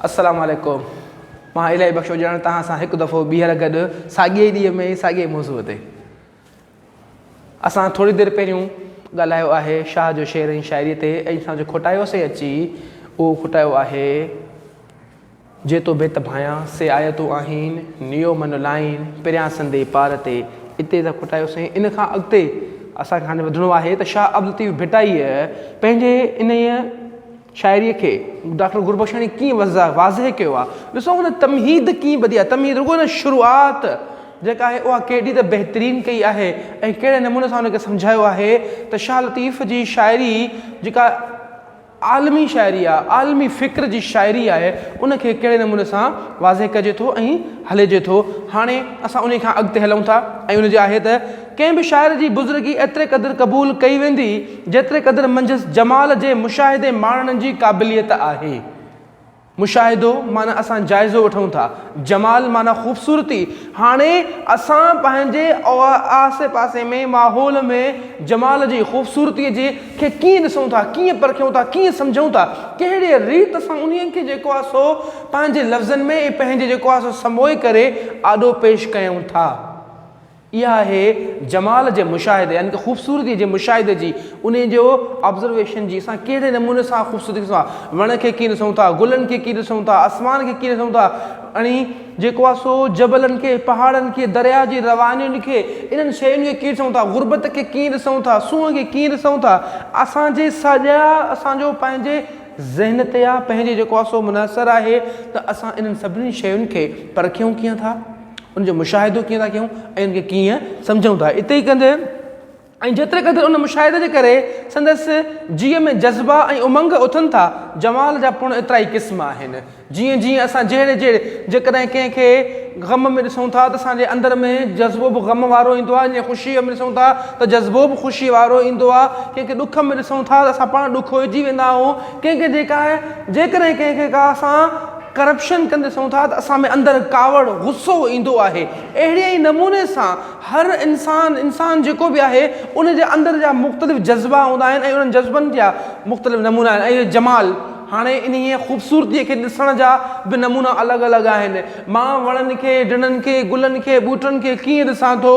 السلام عليڪم مان الاهي بخش اجڙاڻي توهان سان هڪ دفعو ٻيهر گڏ ساڳئي ئي ڏينهن ۾ ساڳئي ئي موضوع تي اسان ٿوري دير پهريون ڳالهايو آهي شاهه جو شعر ۽ شاعري تي ۽ اسان جو کوٽايوسي اچي اهو کوٽايو آهي جي تو بيت ڀايان سي آيو تو آهين نيو من لائين پريان سندي پار تي اتي ته کوٽايوسي ان کان اڳتي اسانکي هاڻي وڌڻو آهي ته شاهه عبدالطيف ڀٽائيء پنهنجي انهيء شاعريء کي ڊاڪٽر گربخشاڻيء ڪيئن واضح ڪيو آهي، ڏسو هن تمهيد ڪيئن ٻڌي آهي، تمهيد رڳو نه شروعات جيڪا آهي اها ڪيڏي ته بهترين ڪئي آهي ۽ ڪهڙي نموني سان ان کي سمجهايو آهي ته شاهه لطيف جي شاعري جيڪا عالمي شاعري آهي، عالمي فڪر جي شاعري آهي ان کي ڪهڙي نموني سان واضح ڪجي ٿو ۽ هلجي ٿو. هاڻي اسان انهيء کان اڳتي هلون ٿا ۽ ان جي آهي ته. ڪنهن به شاعر جي بزرگي ايتري قدر قبول ڪئي ويندي، جيتري قدر منجهس جمال جي مشاهدي ماڻڻ جي قابليت آهي. مشاهدو معنيٰ اسان جائزو وٺون ٿا. جمال معنيٰ خوبصورتي. هاڻي اسان پنهنجي آسي پاسي ۾ ماحول ۾ جمال جي، خوبصورتيء جي، کي ڪيئن ڏسون ٿا، ڪيئن پرکيون ٿا، ڪيئن سمجهون ٿا، ڪهڙيء ريت سان انهيء کي جيڪو آهي سو پنهنجي لفظن ۾ ۽ پنهنجي جيڪو آهي سو سموئي ڪري آڏو پيش ڪيون ٿا. اها آهي جمال جي مشاهدي يعني ته خوبصورتي جي مشاهدي جي انهي جو Observation جي اسان ڪهڙي نموني سان خوبصورتي کي ڏسون ٿا وڻ کي ڪيئن ڏسون ٿا گلن کي ڪيئن ڏسون ٿا آسمان کي ڪيئن ڏسون ٿا اڻي جيڪو آهي سو جبلن کي پهاڙن کي درياء جي روانين کي انهن شين کي ڪيئن ڏسون ٿا غربت کي ڪيئن ڏسون ٿا سونهن کي ڪيئن ڏسون ٿا اسان جي ساڄا اسان جو پنهنجي ذهن تي آهي پنهنجي جيڪو آهي سو منحصر آهي ته اسان انهن سڀني شين کي پرکيون ڪيئن ٿا ان جو مشاهدو ڪيئن ٿا ڪيون ۽ ان کي ڪيئن سمجهون ٿا اتي ئي ڪندي ۽ جيتري قدر ان مشاهدي جي ڪري سندس جيء ۾ جذبا ۽ امنگ اٿن ٿا جمال جا پڻ ايترا ئي قسم آهن جيئن جيئن اسان جهڙي جهڙي جيڪڏهن ڪنهن کي غم ۾ ڏسون ٿا ته اسان جي اندر ۾ جذبو به غم وارو ايندو آهي جيئن خوشيء ۾ ڏسون ٿا ته جذبو به خوشيء وارو ايندو آهي ڪنهن کي ڏک ۾ ڏسون ٿا ته اسان پاڻ ڏکوئجي ويندا آهيون ڪنهن کي جيڪا جيڪڏهن ڪنهن کي ڪا اسان ڪرپشن ڪندي ڏسون ٿا ته اسان ۾ اندر ڪاوڙ، غصو ايندو آهي. اهڙي ئي نموني سان هر انسان، انسان جيڪو به آهي ان جي اندر جا مختلف جذبا هوندا آهن ۽ انهن جذبن جا مختلف نمونا آهن ۽ جمال هاڻي انهيء خوبصورتيء کي ڏسڻ جا به نمونا الڳ الڳ آهن. مان وڻن کي، ڊڻن کي، گلن کي، ٻوٽن کي ڪيئن ڏسان ٿو،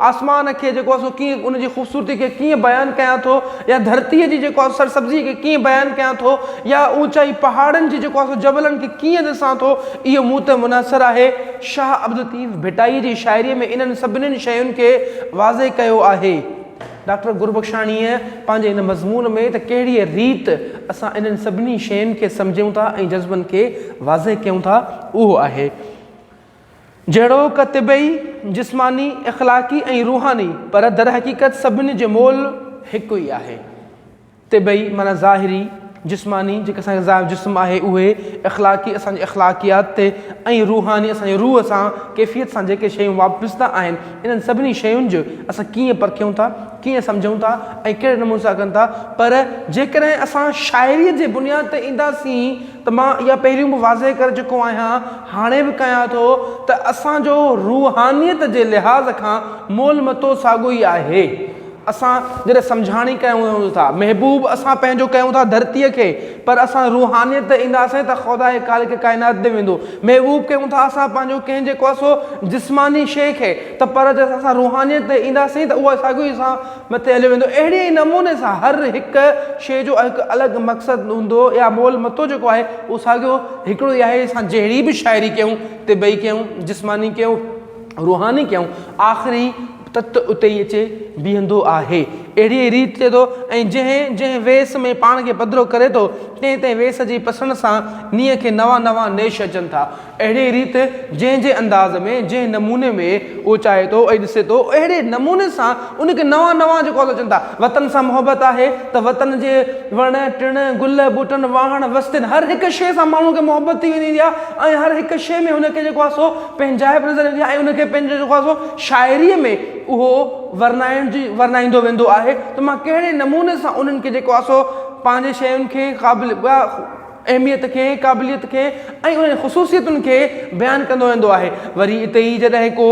آسمان کي جيڪو آهي سو ڪيئن ان جي خوبصورتيء کي ڪيئن بيان ڪيان ٿو يا ڌرتيء جي جيڪو آهي سرسبزيء کي ڪيئن بيان ڪيان ٿو، يا اوچائي پهاڙن جي جيڪو آهي سو جبلن کي ڪيئن ڏسان ٿو، اهو مون تي منحصر آهي. شاهه عبدالطيف ڀٽائي جي شاعريء ۾ انهن سڀنين شين کي واضح ڪيو آهي. ڊاڪٽر گربخشاڻيء پنهنجي هن مضمون ۾ ته ڪهڙيء ريت اسان انهن سڀني شين کي سمجهيون ٿا ۽ جذبن کي واضح ڪيون ٿا، اهو آهي. جهڙوڪ طبعي، جسماني، اخلاقي ۽ روحاني، پر درحقيقت سڀني جو مول هڪ ئي آهي. طبعي معنيٰ ظاهري، جسماني، جيڪي اسان کي ظاهر جسم آهي اهي، اخلاقي، اسان جي اخلاقيات تي ۽ روحاني، اسان جي روح سان، ڪيفيت سان جيڪي شيون وابسته آهن، انهن سڀني شين جو اسان ڪيئن پرکيون ٿا، ڪيئن سمجهون ٿا ۽ ڪهڙي نموني سان ڪن ٿا، پر جيڪڏهن اسان شاعريء جي بنياد تي اينداسين ته مان اها پهريون به واضح ڪري چڪو آهيان، هاڻي به ڪيان ٿو ته اسان جو روحانيت جي لحاظ کان مول متو ساڳيو ئي آهي. اسان جڏهن سمجهاڻي ڪيون ٿا محبوب اسان پنهنجو ڪيون ٿا ڌرتيء کي پر اسان روحانيت تي اينداسين ته خدا هي خالق ڪائنات به ويندو محبوب ڪيون ٿا اسان پنهنجو ڪنهن جيڪو اسو جسماني شيء کي ته پر جڏهن اسان روحانيت تي اينداسين ته اهو ساڳيو ئي اسان مٿي هليو ويندو اهڙي ئي نموني سان هر هڪ شيء جو هڪ الڳ مقصد هوندو يا مول متو جيڪو آهي اهو ساڳيو هڪڙو ئي آهي اسان جهڙي به شاعري ڪيون طبعي ڪيون جسماني ڪيون روحاني ڪيون آخري تت اتي ئي اچي بيهندو آهي. اهڙيء ريت چئي ٿو، ۽ جنهن جنهن ويس ۾ پاڻ کي پڌرو ڪري ٿو، تنهن تنهن ويس جي پسڻ سان نينهن کي نوان نوان نيش اچن ٿا. اهڙيء ريت جنهن جنهن انداز ۾، جنهن نموني ۾ اهو چاهي ٿو ۽ ڏسي ٿو، اهڙي نموني سان ان کي نوان نوان جيڪو اچن ٿا. وطن سان محبت آهي ته وطن جي وڻ ٽڻ، گل ٻوٽن، واهڻ وستين هر هڪ شيء سان ماڻهوء کي محبت ٿي ويندي آهي ۽ هر هڪ شيء ۾ هن کي جيڪو آهي سو پنهنجائپ نظر ايندي آهي ۽ ان کي پنهنجو جيڪو آهي سو شاعريء ۾ اهو ورنائڻ جي ورنائيندو ويندو آهي ته مان ڪهڙي نموني سان انهن کي جيڪو آهي سو پنهنجي شين کي قابل ٻيا اهميت کي قابليت کي ۽ انهن خصوصيتن کي بيان ڪندو ويندو آهي وري اتي ئي جڏهن ڪو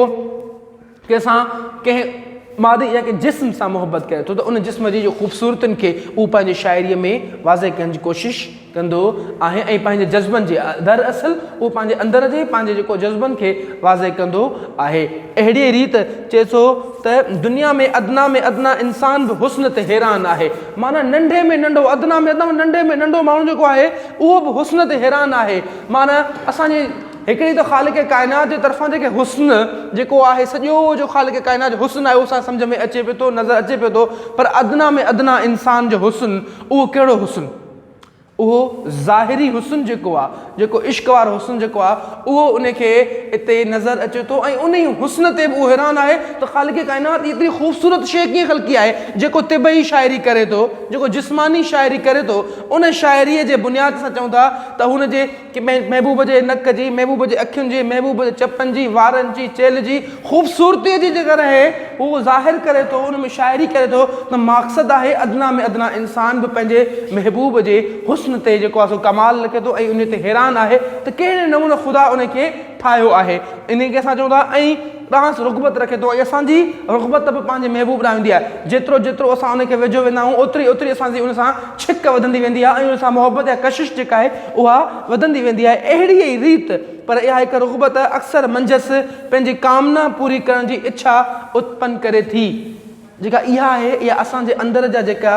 ڪنهن سان ڪنهن مادي يا ڪنهن جسم سان محبت ڪري ٿو ته ان جسم جي جو خوبصورتين کي اهو پنهنجي شاعريء ۾ واضح ڪرڻ جي ڪوشش ڪندو آهي ۽ پنهنجي جذبن جي در اصل اهو پنهنجي اندر جي پنهنجي جيڪو جذبن کي واضح ڪندو آهي اهڙيء ريت چئي ٿو ته دنيا ۾ ادنا ۾ ادنا انسان به حسن تي حيران آهي معنيٰ ننڍي ۾ ننڍو ادنا ۾ ادنا ننڍي ۾ ننڍو ماڻهو جيڪو آهي اهو به حسن تي حيران آهي معنيٰ اسان جي هڪڙي ته خالق ڪائنات جي طرفان جيڪي حسن جيڪو آهي سڄو جو خالق ڪائنات جو حسن آهي اهو اسان سمجهه ۾ اچي پيو ٿو نظر اچي پيو ٿو پر ادنيٰ ۾ ادنيٰ انسان جو حسن اهو ڪهڙو حسن اهو ظاهري حسن جيڪو آهي جيڪو عشق وارو حسن جيڪو آهي اهو ان کي اتي نظر اچي ٿو ۽ ان ئي حسن تي به اهو حيران آهي ته خالق ڪائنات ايتري خوبصورت شيء ڪيئن خلقي آهي جيڪو طبعي شاعري ڪري ٿو جيڪو جسماني شاعري ڪري ٿو ان شاعريء جي بنياد سان چئون ٿا ته هن جي محبوب جي نڪ جي، محبوب جي اکين جي، محبوب جي چپن جي، وارن جي، چيلهه جي خوبصورتي جي جيڪر اهي هو ظاهر ڪري ٿو، ان ۾ شاعري ڪري ٿو ته ماقصد آهي ادنيٰ ۾ ادنيٰ انسان به پنهنجي محبوب جي حسن تي جيڪو آهي سو ڪمال لکي ٿو ۽ انهي تي حيران آهي ته ڪهڙي نموني خدا انهي کي ٺاهيو آهي انهي کي اسان چئون ٿا ۽ ڏانهس رغبت رکي ٿو ۽ اسان جي رغبت به پنهنجي محبوب ڏانهن هوندي آهي. جيترو جيترو اسان ان کي ويجهو ويندا آهيون اوتري اوتري اسان جي ان سان ڇڪ وڌندي ويندي آهي ۽ ان سان محبت يا ڪشش جيڪا آهي اها وڌندي ويندي آهي اهڙي ئي ريت پر اها هڪ رغبت اڪثر منجهس پنهنجي ڪامنا پوري ڪرڻ جي اڇا اتپن ڪري ٿي جيڪا اها آهي يا اسان جي اندر جا جيڪا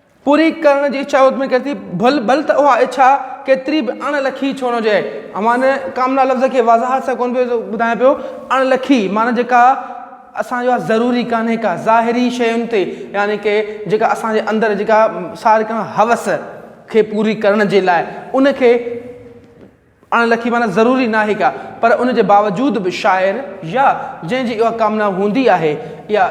پوري ڪرڻ جي اڇا اتمي ڪري ٿي ڀل ڀل ته اها اڇا ڪيتري به اڻ لکي ڇو نه هجي امان ان ڪامنا لفظ کي وضاحت سان ڪون پيو ٻڌايان پيو اڻ لکي معنيٰ جيڪا اسان جو ضروري ڪانهي ڪا ظاهري شين تي يعني ڪي جيڪا اسان جي اندر جيڪا ساري ڪا هوس کي پوري ڪرڻ جي لاء ان کي اڻ لکي معنيٰ ضروري ناهي ڪا پر ان جي باوجود به شاعر يا جنهن جي اها ڪامنا هوندي آهي يا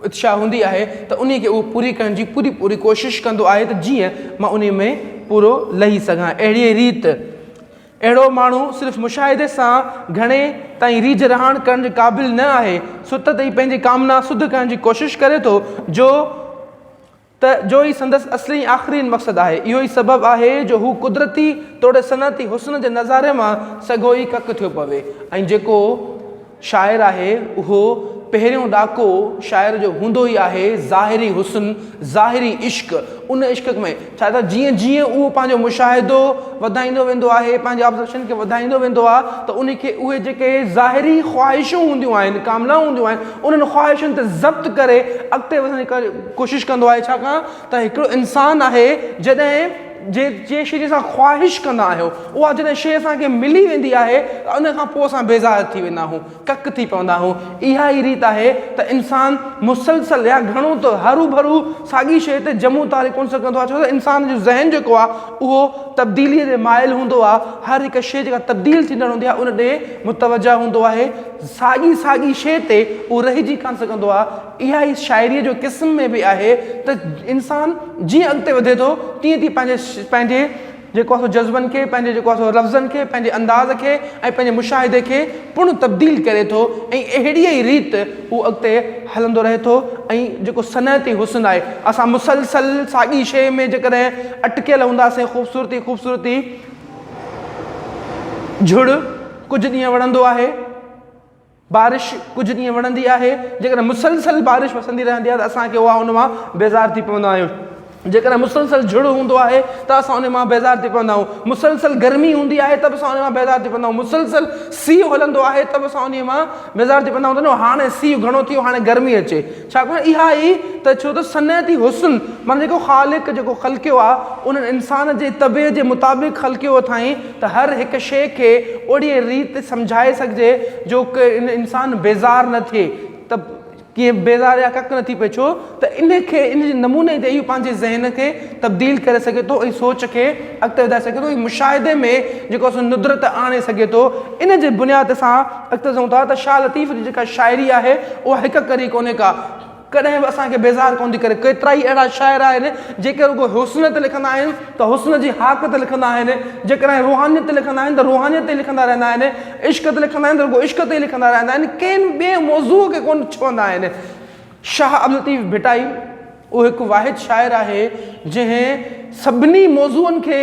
اتشا هوندي آهي ته انهي کي اهو پوري ڪرڻ جي پوري پوري ڪوشش ڪندو آهي ته جيئن مان انهي ۾ پورو لهي سگهان اهڙي ئي ريت اهڙو ماڻهو صرف مشاهدي سان گهڻي تائين ريجهه رهاڻ ڪرڻ جي قابل نه آهي سوتت ئي پنهنجي ڪامنا سڌ ڪرڻ جي ڪوشش ڪري ٿو جو ته جو ئي سندس اصلي ۽ آخرين مقصد آهي. اهو ئي سبب آهي جو هو قدرتي توڙي صنعتي حسن جي نظاري مان سگهو ئي ڪڪ ٿيو پوي ۽ جيڪو شاعر آهي اهو پهريون ڏاڪو شاعر جو هوندو ئي آهي ظاهري حسن، ظاهري عشق، ان عشق ۾ ڇا ته جيئن جيئن اهو پنهنجو مشاهدو وڌائيندو ويندو آهي پنهنجي آبزرويشن کي وڌائيندو ويندو آهي ته ان کي اهي جيڪي ظاهري خواهشون هونديون آهن ڪامنائون هونديون آهن انهن خواهشن تي ضبط ڪري اڳتي وڌڻ جي ڪوشش ڪندو آهي ڇاڪاڻ ته هڪڙو انسان آهي جڏهن جي جنهن شي جي اسان خواهش ڪندا آهيو اها جڏهن شي اسان کي ملي ويندي آهي ته ان کان پوء اسان بيزار ٿي ويندا آهيون ڪڪ ٿي پوندا آهيون اها ئي ريت آهي ته انسان مسلسل يا گهڻو ته هرو ڀرو ساڳي شي تي جمع و تاري ڪونه سگهندو آهي ڇو ته انسان جو ذهن جيڪو آهي اهو تبديلي ڏي مائل هوندو آهي هر هڪ شي جيڪا تبديل ٿيندڙ هوندي آهي ان ڏي متوجه هوندو آهي ساڳي ساڳي شي تي اهو رهجي ڪانه سگهندو آهي اها ئي شاعريء جو قسم ۾ به آهي ته انسان جيئن اڳتي وڌي ٿو تيئن تيئن پنهنجي پنهنجي جيڪو آهي سو جذبن کي پنهنجي جيڪو آهي سو لفظن کي پنهنجي انداز کي ۽ پنهنجي مشاهدي کي پڻ تبديل ڪري ٿو ۽ اهڙيء ئي ريت هو اڳتي هلندو رهي ٿو ۽ جيڪو صنعتي حسن آهي اسان مسلسل ساڳي شيء ۾ جيڪڏهن اٽڪيل هونداسين خوبصورتي خوبصورتي جھڙ ڪجهه ڏينهن وڙهندو آهي. بارش ڪجهه ڏينهن وڻندي آهي جيڪڏهن مسلسل بارش وسندي رهندي آهي ته اسان کي اها ان مان بيزار ٿي پوندا آهيون جيڪڏهن مسلسل جھڙ هوندو آهي ته اسان ان مان بيزار ٿي پوندا آهيون مسلسل گرمي هوندي آهي ته به اسان ان مان بيزار ٿي پوندا آهيون مسلسل سيء هلندو آهي ته به اسان ان مان بيزار ٿي پوندا آهيون هاڻي سيء گھڻو ٿيو هاڻي گرمي اچي ڇاڪاڻ اها ئي ته ڇو ته صنعتي حسن معنيٰ جيڪو خالق جيڪو خلقيو آ ان انسان جي طبعيت جي مطابق خلقيو اٿائين ته هر هڪ شيء کي اهڙيء ريت سمجهائي سگهجي جو انسان بيزار نه ٿئي ته ڪيئن بيزار يا ڪڪ نه ٿي پئي ڇو ته ان کي ان جي نموني تي اهو پنهنجي ذهن کي تبديل ڪري سگهي ٿو ۽ سوچ کي اڳتي وڌائي سگهي ٿو ۽ مشاهدي ۾ جيڪو سو ندرت آڻي سگهي ٿو ان جي بنياد سان اڳتي چئون ٿا ته شاهه لطيف جي جيڪا شاعري آهي اها هڪ ڪري ڪونهي ڪا، ڪڏهن به اسان کي بيزار ڪونه ٿي ڪري، ڪيترائي اهڙا شاعر آهن جيڪي رڳو حسن تي لکندا آهن ته حسن جي هاڪ تي لکندا آهن، جيڪڏهن روحانيت تي لکندا آهن ته روحانيت تي لکندا رهندا آهن، عشق تي لکندا آهن ته رڳو عشق تي ئي لکندا رهندا آهن، ڪنهن ٻئي موضوع کي ڪونه ڇهندا آهن. شاهه عبداللطيف ڀٽائي. اهو هڪ واحد شاعر آهي جنهن سڀني موضوعن کي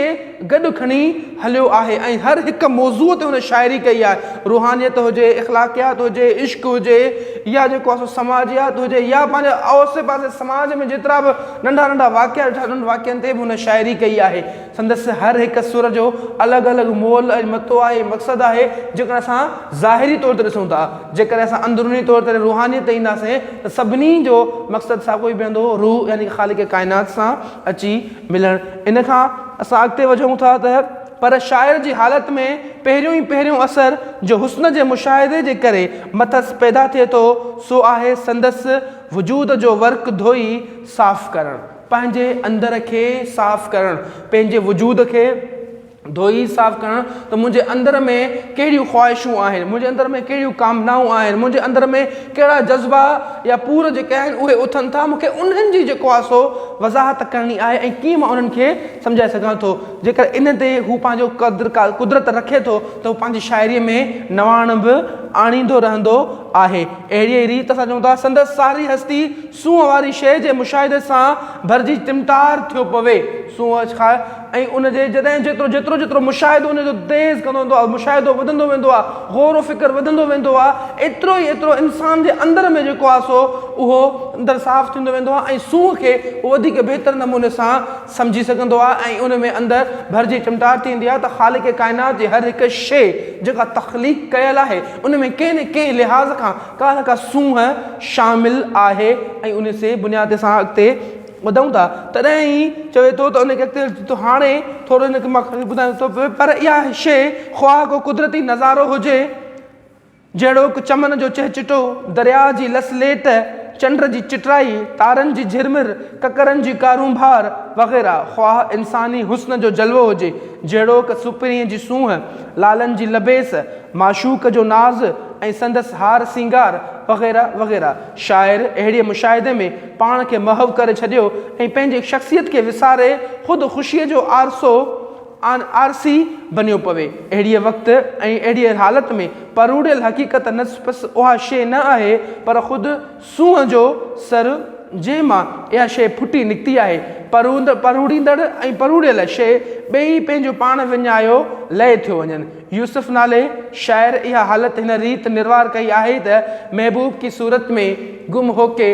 گڏ کڻي هليو آهي ۽ هر هڪ موضوع تي هن شاعري ڪئي آهي روحانيت هجي اخلاقيات هجي عشق هجي يا جيڪو آسو سماجيات هجي يا پنهنجي آسي پاسي سماج ۾ جيترا به ننڍا ننڍا واقعا ڏٺا انهن واقعن تي به هن شاعري ڪئي آهي سندس هر هڪ سر جو الڳ الڳ مول ۽ متو آهي، مقصد آهي، جيڪڏهن اسان ظاهري طور تي ڏسون ٿا، جيڪڏهن اسان اندروني طور تي روحانيت تي اينداسين ته سڀني جو مقصد ساڳيو ئي بيهندو، روح يعني خالق ڪائنات سان اچي ملڻ. ان کان اسان اڳتي وڌون ٿا ته پر شاعر جي حالت ۾ پهريون ئي پهريون اثر جو حسن جي مشاهدي جي ڪري مٿس پيدا ٿئي ٿو سو آهي سندس وجود جو ورق ڌوئي صاف ڪرڻ. پنهنجي اندر کي صاف ڪرڻ، پنهنجي وجود کي ڌوئي صاف ڪرڻ ته منهنجي اندر ۾ ڪهڙيون خواهشون آهن، منهنجي اندر ۾ ڪهڙيون ڪامنائون آهن، منهنجي اندر ۾ ڪهڙا جذبا يا پور جيڪي آهن اهي اٿن ٿا، مونکي انهن جي جيڪو آهي سو وضاحت ڪرڻي آهي ۽ ڪيئن مان انهن کي سمجهائي سگهان ٿو. جيڪر ان تي هو پنهنجو قدر قدرت رکي ٿو ته هو پنهنجي شاعريء ۾ نواڻ به آڻيندو رهندو آهي. اهڙيء ئي ريت اسان چئون ٿا سندس ساري هستي سونهن واري شيء جي مشاهدي سان ڀرجي ٽمٽار ٿيو پوي. سونهن کان ۽ ان جي جڏهن جيترو جيترو جيترو مشاهدو ان جو تيز ڪندو ويندو آهي، مشاهدو وڌندو ويندو آهي، غور و فڪر وڌندو ويندو آهي، ايترو ئي ايترو انسان جي اندر ۾ جيڪو آهي سو اهو اندر صاف ٿيندو ويندو آهي ۽ سونهن کي هو وڌيڪ بهتر نموني سان سمجهي سگهندو آهي ۽ ان ۾ اندر ڀرجي چمٽار ٿيندي آهي ته خالق ڪائنات جي هر هڪ شيء جيڪا تخليق ڪيل آهي ان ۾ ڪنهن نه ڪنهن لحاظ کان ڪا نه ڪا سونهن شامل آهي ۽ ان سي بنياد تي اسان اڳتي وڌون ٿا تڏهن ئي چوي ٿو ته ان کي اڳتي وڌي ٿو هاڻي ٿورو ان کي مان کڻي ٻڌايان ٿو پر اها شيء خواه ڪو قدرتي نظارو هجي جهڙوڪ، چمن جو چهچٽو، درياء جي لس ليٽ، چنڊ جي چٽرائي، تارن جي جهرمر، ڪڪرن جي ڪارونڀار وغيره، خواه انساني حسن جو جلوو هجي، جهڙوڪ، سپرينء جي سونهن، لالن جي لبيس، معشوق جو ناز ۽ سندس هار سينگار وغيره وغيره. شاعر اهڙيء مشاهدي ۾ پاڻ کي محو ڪري ڇڏيو ۽ پنهنجي شخصيت کي وساري خود خوشيء جو آرسو آن آر سي بنيو پوي. اهڙيء وقت ۽ اهڙيء حالت ۾ پروڙيل حقيقت نه پس اها شيء نه آهي، پر خود سونهن جو سر، جنهن مان اها شيء ڦٽي نڪتي آهي. پروند، پروڙيندڙ ۽ پروڙيل شيء ٻئي ئي پنهنجو پاڻ وڃايو لئه ٿيو وڃن. يوسف نالي شاعر اها حالت هن ريت نروار ڪئي آهي ته، محبوب ڪي صورت ۾ گم هوڪي،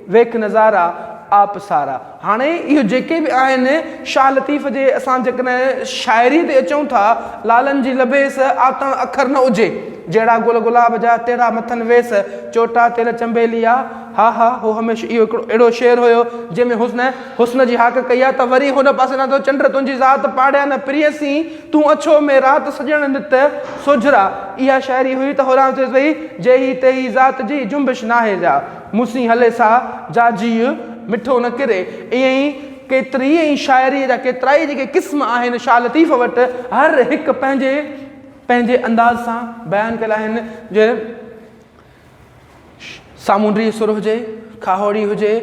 ويک نظارا آپ سارا. هاڻي اهي جيڪي به آهن شاهه لطيف جي اسان جيڪڏهن شاعري تي اچون ٿا لالن جي لبيس آتڻ اکر نه اجهي جهڙا گل گلاب جا تهڙا مٿن ويس چوٽا تيل چنبيلي آ ها ها هو هميشه اهو هڪڙو اهڙو شعر هيو جنهن ۾ حسن حسن جي هاڪ ڪئي آ ته وري هن پاسي نه ٿو چنڊ تنهنجي ذات پاڙيان نه پرينسين تون اڇو مين رات سڄڻ نت سوجهرا اها شاعري هئي ته هورانهن چئيس پئي جي هي تي هي ذات جي جنبش ناهي جا مون سين هلي سا جا جيء مٺو نه ڪري. ائين ئي ڪيتري ئي شاعريء جا ڪيترائي جيڪي قسم آهن، شاهه لطيف وٽ هر هڪ پنهنجي پنهنجي انداز سان بيان ڪيل آهن، جيئن سامونڊي سر هجي، کاهوڙي هجي،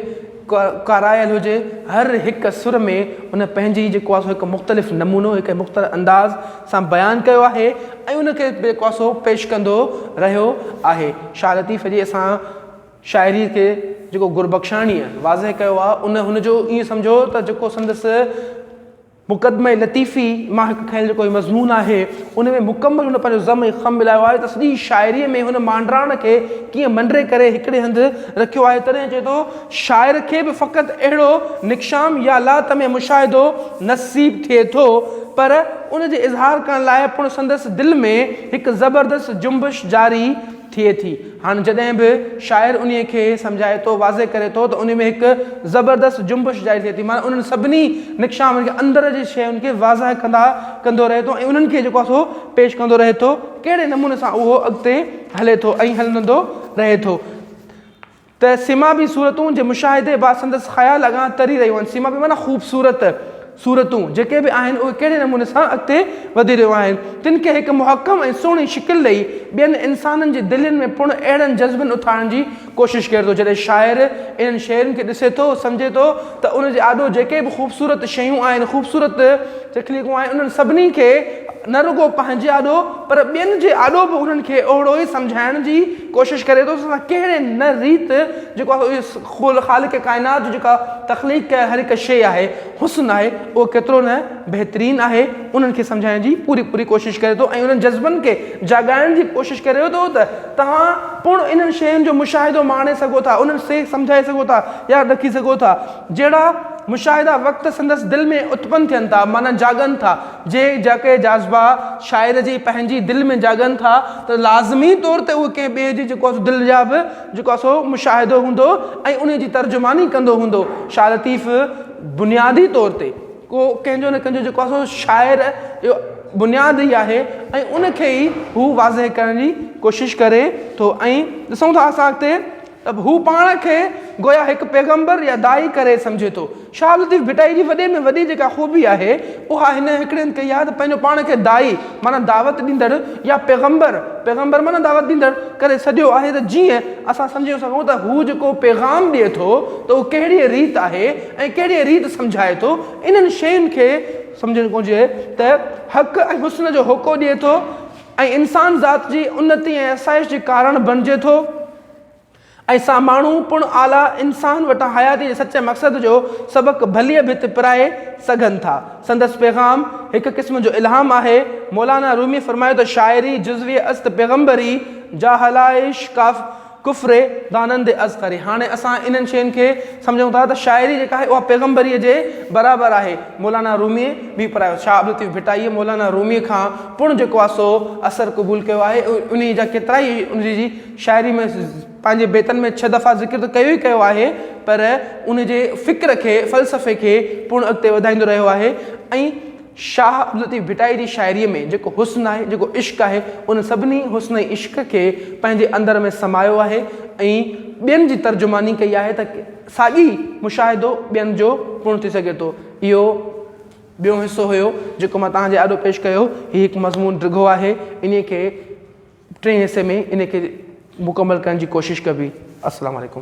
ڪارايل هجي، هر هڪ سر ۾ ان پنهنجي جيڪو آهي سو هڪ مختلف نمونو، هڪ مختلف انداز سان بيان ڪيو آهي ۽ ان کي بي ڪوسو پيش ڪندو رهيو آهي. شاهه لطيف جي اسان شاعريء کي جيڪو گربخشاڻيء واضح ڪيو آهي، ان هن جو ائين سمجهو ته جيڪو سندس مقدمه لطيفي مان هڪ کنيل جيڪو هي مضمون آهي، ان ۾ مڪمل هن پنهنجو ضم ۽ خم ملايو آهي ته سڄي شاعريء ۾ هن مانڊراڻ کي ڪيئن منڊي ڪري هڪڙي هنڌ رکيو آهي، تڏهن چئي ٿو شاعر کي به فقط اهڙو نڪشام يا لاطمع مشاهدو نصيب ٿئي ٿو، پر ان جي اظهار ڪرڻ لاء پڻ سندس دل ۾ هڪ زبردست جنبش جاري ٿئي ٿي. هاڻ جڏهن به شاعر انهيء کي سمجهائي ٿو، واضح ڪري ٿو ته انهيء ۾ هڪ زبردست جنبش جاري ٿئي ٿي، معنيٰ انهن سڀني نڪشامن کي، اندر جي شين کي واضح ڪندا ڪندو رهي ٿو ۽ انهن کي جيڪو آهي سو پيش ڪندو رهي ٿو، ڪهڙي نموني سان اهو اڳتي هلي ٿو ۽ هلندو رهي ٿو. ته سيما بي صورتون جي مشاهدي بعد سندس خيال اڳان تري رهيون آهن. سيما بي معنيٰ خوبصورت صورتون جيڪي به آهن اهي ڪهڙي نموني سان اڳتي وڌي رهيون آهن. تن کي هڪ محڪم ۽ سهڻي شڪل ڏئي ٻين انسانن جي دلين ۾ پڻ اهڙن جذبن اٿارڻ جي ڪوشش ڪري ٿو. جڏهن شاعر انهن شين کي ڏسي ٿو سمجهي ٿو ته ان جي آڏو جيڪي به خوبصورت شيون آهن خوبصورت تخليقون آهن انهن سڀني کي نه رڳو پنهنجي آڏو پر ٻين جي آڏو به انهن کي اهڙو ئي سمجهائڻ جي ڪوشش ڪري ٿو ته اسان ڪهڙي نه ريت جيڪو اهو خالق ڪائنات جو جيڪا تخليق ڪيل هر هڪ شيء آهي، حسن آهي، اهو ڪيترو نه بهترين آهي، انهن کي سمجهائڻ جي پوري پوري ڪوشش ڪري ٿو ۽ انهن جذبن کي جاڳائڻ جي ڪوشش ڪري ٿو ته توهان پڻ انهن شين جو مشاهدو ماڻي سگهو ٿا، انهن سي سمجهائي سگهو ٿا، ياد رکي سگهو ٿا، جهڙا مشاهدا وقت سندس دل ۾ اتپن ٿين ٿا، معنيٰ جاڳن ٿا، جي جيڪي جذبا شاعر جي پنهنجي دل ۾ جاڳن ٿا ته لازمي طور تي اهي ڪنهن ٻئي جي جيڪو سو دل جا به جيڪو سو مشاهدو هوندو ۽ انهي جي ترجماني ڪندو هوندو شاهه لطيف بنيادي طور تي ڪو ڪنهن جو نه ڪنهن جو جيڪو سو شاعر جو بنياد ئي آهي ۽ ان کي ئي هو واضح ڪرڻ جي ڪوشش ڪري ٿو ۽ ڏسون ٿا اسان اڳتي ته هو پاڻ کي گويا هڪ پيغمبر يا داعي ڪري سمجهي ٿو. شاهه لطيف ڀٽائي جي وڏي ۾ وڏي جيڪا خوبي آهي اها هن هڪڙين ڪئي آهي ته پنهنجو پاڻ کي داعي معنيٰ دعوت ڏيندڙ يا پيغمبر، پيغمبر معنيٰ دعوت ڏيندڙ، ڪري سڏيو آهي ته جيئن اسان سمجهي سگهون ته هو جيڪو پيغام ڏئي ٿو ته اهو ڪهڙيء ريت آهي ۽ ڪهڙيء ريت سمجهائي ٿو انهن شين کي سمجهڻ گهرجي ته حق ۽ حسن جو هوڪو ڏئي ٿو ۽ انسان ذات جي انتي ۽ آسائش جي ڪارڻ بڻجي ٿو. ۽ سا ماڻهو پڻ اعليٰ انسان وٽان حياتيء جي سچي مقصد جو سبق ڀليء ڀت پرائي سگهن ٿا. سندس پيغام هڪ قسم جو الهام آهي. مولانا رومي فرمايو ته شاعري جزوي است پيغمبري، جاهلائش ڪاف ڪفر دانند اصغري. هاڻي اسان انهن شين کي سمجهون ٿا ته شاعري جيڪا آهي اها پيغمبريء جي برابر آهي. مولانا روميء به پرايو شاهه عبدالطيف ڀٽائيء مولانا روميء کان پڻ جيڪو آسو اثر قبول ڪيو آهي انهيء جا ڪيترائي ان جي شاعري ۾ پنهنجي بيتن ۾ ڇهه دفعا ذڪر ته ڪيو ئي ڪيو آهي پر ان جي فڪر کي فلسفي کي پڻ اڳتي وڌائيندو رهيو آهي ۽ شاهه عبداللطيف ڀٽائي جي شاعري ۾ جيڪو حسن آهي جيڪو عشق آهي ان سڀني حسن ۽ عشق کي پنهنجي اندر ۾ سمايو آهي ۽ ٻين جي ترجماني ڪئي آهي ته ساڳي مشاهدو ٻين جو پڻ ٿي سگهي ٿو اهو ٻيون حصو هيو جيڪو مان توهان جي آڏو پيش ڪيو هي هڪ مضمون ڊگهو آهي انهي کي ٽئين حصي ۾ ان کي مڪمل ڪرڻ جي ڪوشش ڪبي السلام عليڪم.